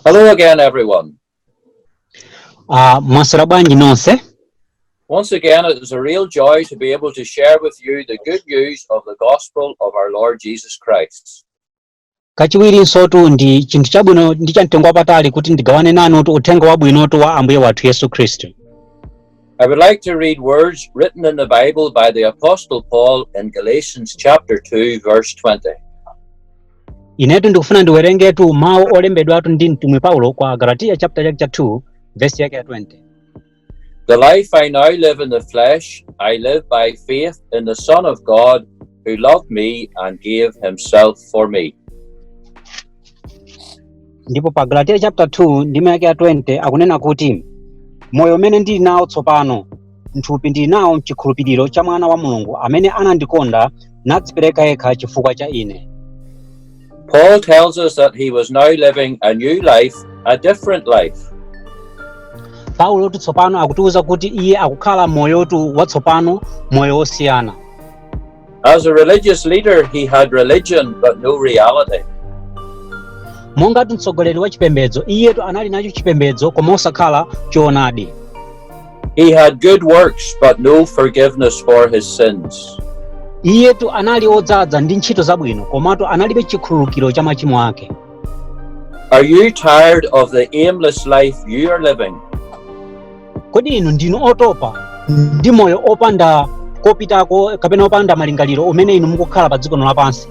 Hello again, everyone. Uh, mwaswera bwanji nonse Once again, it is a real joy to be able to share with you the good news of the gospel of our Lord Jesus Christ. kachiwirinsotu ndi chinthu chabwino ndi chamtengo wapatali kuti ndigawane nanutu uthenga wabwinotu wa ambuye wathu yesu khristu I would like to read words written in the Bible by the Apostle Paul in Galatians chapter 2 verse 20. inetu ndikufuna ndiwerengetu mawu olembedwatu ndi mtumwi paulo kwa galatiya chapter chake cha 2 vesi yake ya 20 The life I now live in the flesh, I live by faith in the Son of God who loved me and gave himself for me. ndipo pa galatiya chapter 2 ndime yake ya 20 akunena kuti moyo umene ndili nawo tsopano mthupi ndili nawo mchikhulupiriro cha mwana wa mulungu amene anandikonda nadzipereka yekha chifukwa cha ine Paul tells us that he was now living a new life, a different life. paulotu tsopano akutiwuza kuti iye akukhala moyotu watsopano moyo wosiyana As a religious leader, he had religion but no reality. mongatu mtsogoleri wa chipembedzo iyetu anali nacho chipembedzo koma osakhala choonadi He had good works but no forgiveness for his sins. iyetu anali odzadza ndi ntchito zabwino komatu analibe chikhululukiro cha machimo ake Are you tired of the aimless life you are living? kodi inu ndinu otopa ndi moyo opanda kopitako kapena opanda malingaliro umene inu mukukhala pa dziko lino lapansi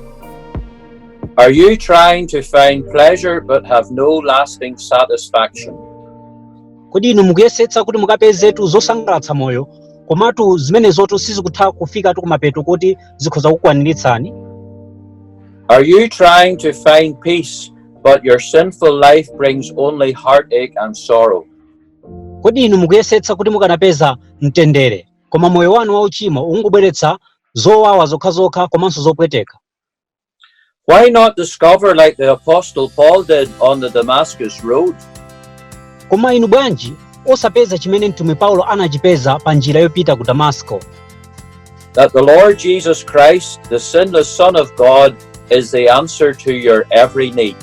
Are you trying to find pleasure but have no lasting satisfaction? kodi inu mukuyesetsa kuti mukapezetu zosangalatsa moyo komatu zimenezotu sizikutha kufikatu kumapeto kuti zikhoza kukwaniritsani Are you trying to find peace but your sinful life brings only heartache and sorrow? kodi inu mukuyesetsa kuti mukanapeza mtendere koma moyo wanu wauchimo ukungobweretsa zowawa zokhazokha komanso zopweteka Why not discover, like the Apostle Paul did on the Damascus Road, koma inu bwanji osapeza chimene mtumwi paulo anachipeza pa njira yopita ku damasiko that the Lord Jesus Christ, the sinless Son of God, is the answer to your every need?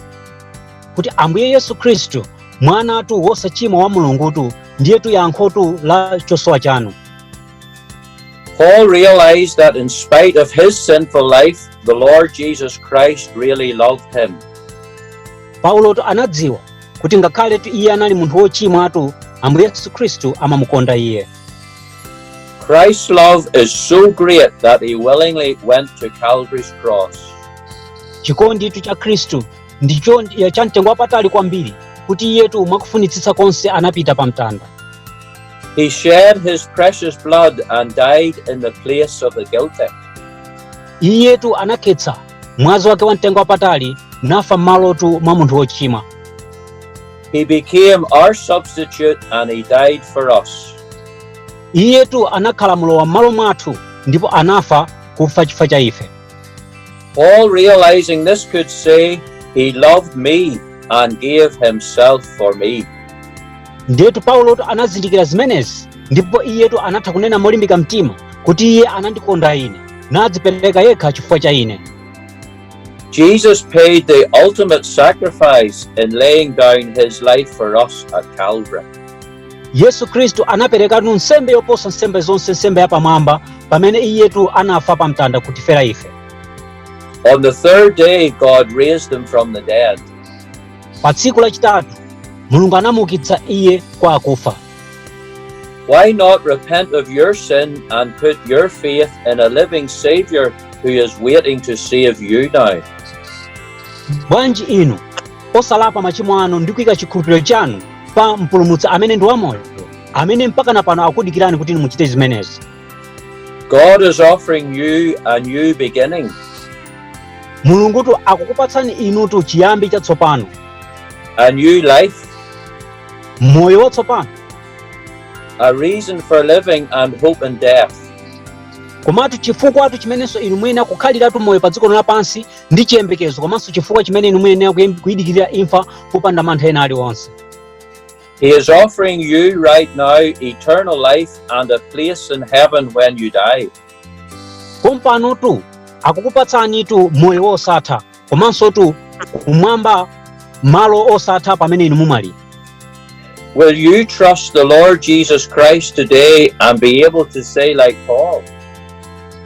kuti ambuye yesu khristu mwanatu wosachimwa wa mulungutu ndiyetu yankhotu la chosowa chanu Paul realized that in spite of his sinful life, the Lord Jesus Christ really loved him. paulotu anadziwa kuti ngakhaletu iye anali munthu wochimwatu ambuye yesu khristu amamukonda iye Christ's love is so great that he willingly went to Calvary's cross. chikonditu cha khristu ndicho ndi- cha mtengo wapatali kwambiri kuti iyetu mwakufunitsitsa konse anapita pa mtanda He shed his precious blood and died in the place of the guilty. iyetu anakhetsa mwazi wake wa mtengo wapatali nafa m'malotu mwa munthu wochimwa He became our substitute and he died for us. iyetu anakhala mlowa m'malo mwathu ndipo anafa kufa chifukwa cha ife Paul, realizing this, could say, He loved me and gave himself for me. ndiyetu paulotu anazindikira zimenezi ndipo iyetu anatha kunena molimbika mtima kuti iye anandikonda ine nadzipereka yekha chifukwa cha ine Jesus paid the ultimate sacrifice in laying down his life for us at Calvary. yesu khristu anaperekatu nsembe yoposa nsembe zonse nsembe yapamwamba pamene iyetu anafa pa mtanda kutifera ife On the third day, God raised him from the dead. pa tsiku lachitatu mulungu anamuukitsa iye kwa akufa Why not repent of your sin and put your faith in a living Savior who is waiting to save you now? bwanji inu osalapa machimo anu ndi kuika chikhulupiriro chanu pa mpulumutsi amene ndi wamoyo amene mpakana pano akukudikirani kuti inu muchite zimenezi God is offering you a new beginning. mulungutu akukupatsani inutu chiyambi chatsopano a new life, moyo watsopano a reason for living and hope in death. komatu chifukwatu chimenenso inu muyenera kukhaliratu moyo pa dziko lino lapansi ndi chiyembekezo komanso chifukwa chimene inu muyenera kuyidikirira imfa popanda mantha ena aliwonse He is offering you right now eternal life and a place in heaven when you die. pompanotu akukupatsanitu moyo wosatha komansotu kumwamba malo osatha pamene inu mumwalira Will you trust the Lord Jesus Christ today and be able to say, like Paul,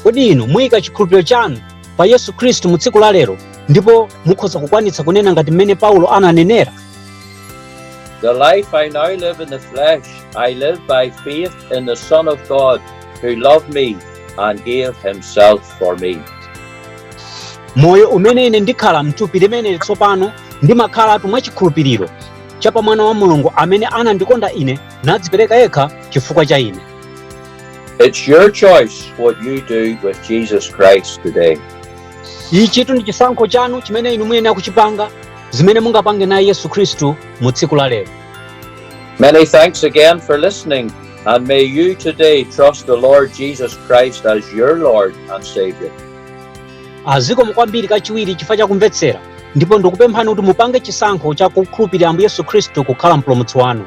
kodi inu muyika chikhulupiriro chanu pa Yesu Khristu mu tsiku la lero ndipo mukhoza kukwanitsa kunena ngati mmene Paulo ananenera? The life I now live in the flesh, I live by faith in the Son of God who loved me and gave himself for me. Moyo umene ine ndikhala mthupi limeneli tsopano ndimakhalatu mwa chikhulupiriro cha pa mwana wa Mulungu amene anandikonda ine nadzipereka yekha chifukwa cha ine. It's your choice what you do with Jesus Christ today. ichitu ndi chisankho chanu chimene inu muyenera kuchipanga zimene mungapange naye yesu khristu mu tsiku la lero Many thanks again for listening, and may you today trust the Lord Jesus Christ as your Lord and Savior. azikomo kwambiri kachiwiri chifukwa chakumvetsera ndipo ndikupemphani kuti mupange chisankho chakukhulupirira ambuye yesu khristu kukhala mpulumutsi wanu